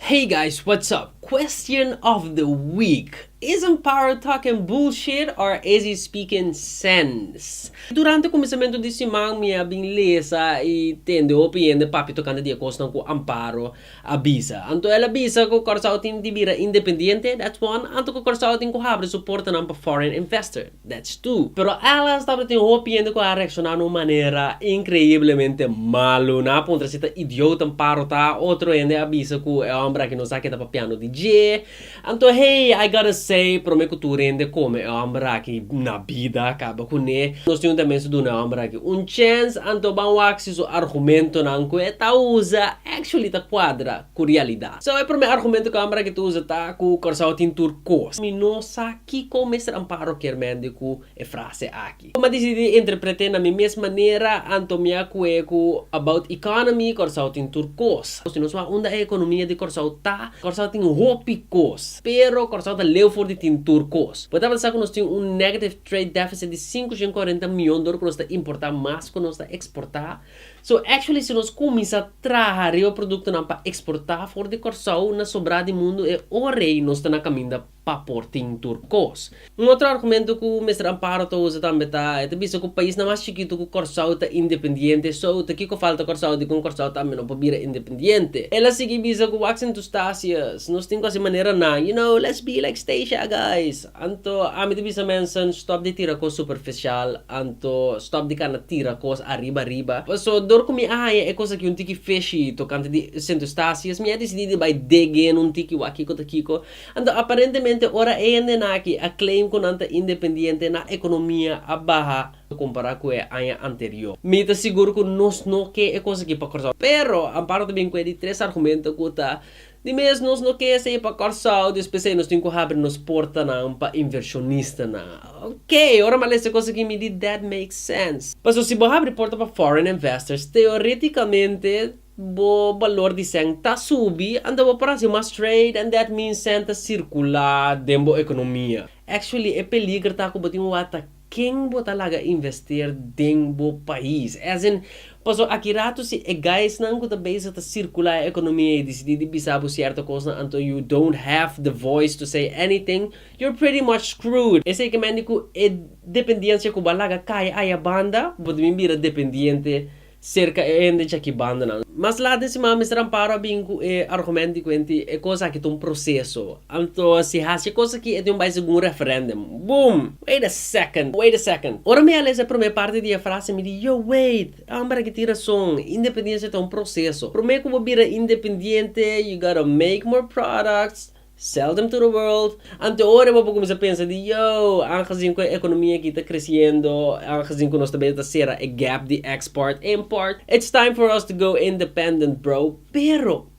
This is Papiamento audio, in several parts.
Hey guys what's up question of the week isn't power talking bullshit or is he speaking sense durante kuminsamentu di siman mi a bin lesa y tende hopi hende papia tokante di e kosnan ku Amparo a bisa anto el a bisa ku Kòrsou tin di bira independiente that's one anto ku Kòrsou tin ku habri su portanan pa foreign investor. That's two. Pero Alan tabata tin hopi hende ku a reakshoná na un manera inkreiblemente malu. Nan a puntra si ta idiot en paro ta. Otro hende a bisa ku e hòmber aki no sa ke ta papiando di dje. Anto hey, I gotta say, promé ku tur hende kome e hòmber aki na bida kaba kuné. Nos tin un tendensia duna e hòmber aki un chèns, anto ban wak si su argumentonan ku e ta usa actually ta kuadra ku realidat. So e promé argumento ku e hòmber aki ta usa ta ku Kòrsou tin tur kos. Mi no sa. Kiko Mister Amparo kier mende ku e frase aki? Bo m'a disidí interpret'é na mi mes manera anto mi a ku'é ku About Economy, Kòrsou tin tur kos. Si nos wak unda e ekonomia di Kòrsou ta, Kòrsou tin hopi kos. Pero Kòrsou ta leu for di tin tur kos. Bo tabata sa ku nos tin un negative trade deficit di sinku shen kuarenta mion dor ku nos ta importá mas ku nos ta eksportá. So, actually si nos kuminsá traha riba produktonan pa eksportá for di Kòrsou na sobrá di mundu e ora ei nos ta na kaminda pa por tin tur kos. Un otro argumento ku Mister Amparo ta usa tambe ta e ta bisa ku paisnan mas chikitu ku Kòrsou ta independiente, so ta kiko falta Kòrsou dikon Kòrsou tambe no por bira independiente. El a sigui bisa ku wak sintustacias, nos tin ku hasi manera nan, you know, let's be like Stacia guys. Anto ami ta bisa mensen stòp di tira kos superficial, anto stòp di kana tira kos ariba ariba. Paso dor ku mi a haña e kos aki un tiki fishy tokante di sintustacias, mi a disidí di bai degen un tiki wak kiko ta kiko. Anto aparentemente ora e hendenan aki a claim cu nan ta independiente nan economia a baha compara cu e aña anterior. Mi ta sigur cu nos no ke e cos aki pa Corsao. Pero Amparo ta bin cu e di tres argumento cu ta di mes nos no ke esey pa Corsao despues esey nos tin cu habri nos portanan pa inversionistanan. Ok, ora mi a lesa e cos aki mi di that makes sense. Pasobra si bo habri porta pa foreign investors teoreticamente. Bo balor di cent ta subi and ta bo parasi mas straight and that means cent ta circula den bo economia. Actually e peliger ta cu bo tin wata ken bo ta laga invester den bo pais. As in, paso aki rato si e guysnan cu ta bezig ta circula e economia e dicidi di bisa bo cierto cosnan anto you don't have the voice to say anything, you're pretty much screwed. Esey ke mende cu e dependencia cu bo a laga cay ayabanda, bo ta bin bira dependiente serka e hende chakibandanan. Mas laat den siman Mister Amparo a bin ku e argumento di ku enti e kos aki ta un proseso, anto si hasi e kos aki e tin bai segun referendum. Boom! Wait a second, wait a second. Ora mi a lesa e prome parti di e frase mi di, yo wait, e homber aki tin rason, independensia ta un proseso. Prome ku bo bira independiente, you gotta make more products, Seldom to the world, ante ora bo por cuminsa pensa di yo, angezin cu e economia aki ta creciendo, angezin cu nos ta beta ta cera e gap di export, import, it's time for us to go independent bro, pero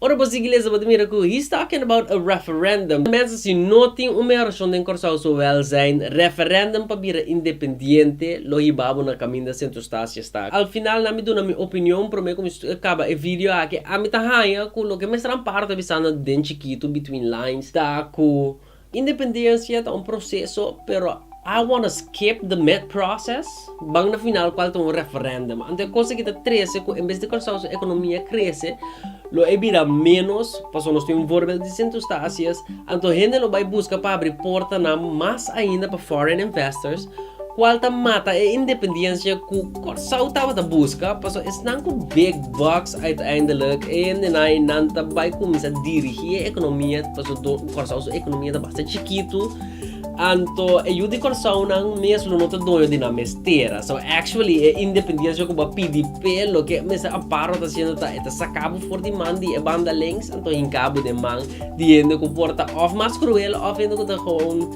ora bo sigui lesa bo ta mira cu he's talking about a referendum, mensen si no tin un mehor opcion den Corsou so welzijn, referendum pa bira independiente, lo hiba bo na caminda centro Stacia Staca. Al final na mi duna mi opinion prome ku mi kaba e video aki. Ami ta haña ku loke Mester Amparo ta bisana den chikitu between lines ta ku independencia ta un proceso pero I wanna skip the mid process ban na final kual ta un referendum. Anto e kos aki ta trese ku en bes di Kòrsou su ekonomia krese, Lo e bira ménos, pasobra nos tin un vòrbel di Sintus ta hasi es, anto hende lo bai buska pa abri portanan mas ainda pa foreign investors, kual ta mata e independiensia ku Kòrsou tabata buska, pasobra esnan ku big bucks uiteindelik e hendenan ei nan ta bai kuminsá dirigí e ekonomia, pasobra Kòrsou su ekonomia ta basta chikitu. Anto e yu di Kòrsounan mes lo no ta doño di nan mes tera. So actually e independensia ku bo a pidi p'e loke Mister Amparo ta hasiendo ta e ta saka bo for di man di e banda links anto hinka bo den man di hende ku por ta òf mas kruel òf hende ku ta gewoon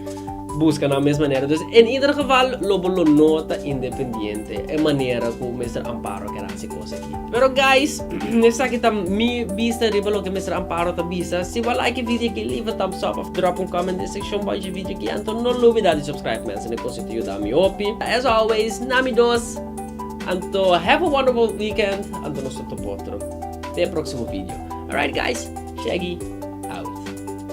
buska nan mes manera. Dus en ieder geval lo bo lo no ta independiente e manera ku Mister Amparo a kere hasi. Pero guys, esaki ta mi bista riba loke Mister Amparo ta bisa. Si bo like e video aki, leave a thumbs up of drop un comment den seksyon boy dje video aki. Anto no lubida di subscribe mense, na e kos ei ta yuda mi hopi. As always, na mi dos. Anto have a wonderful weekend. Anto nos ta topa otro. Te e proksimo video. Alright guys, Shaggy out.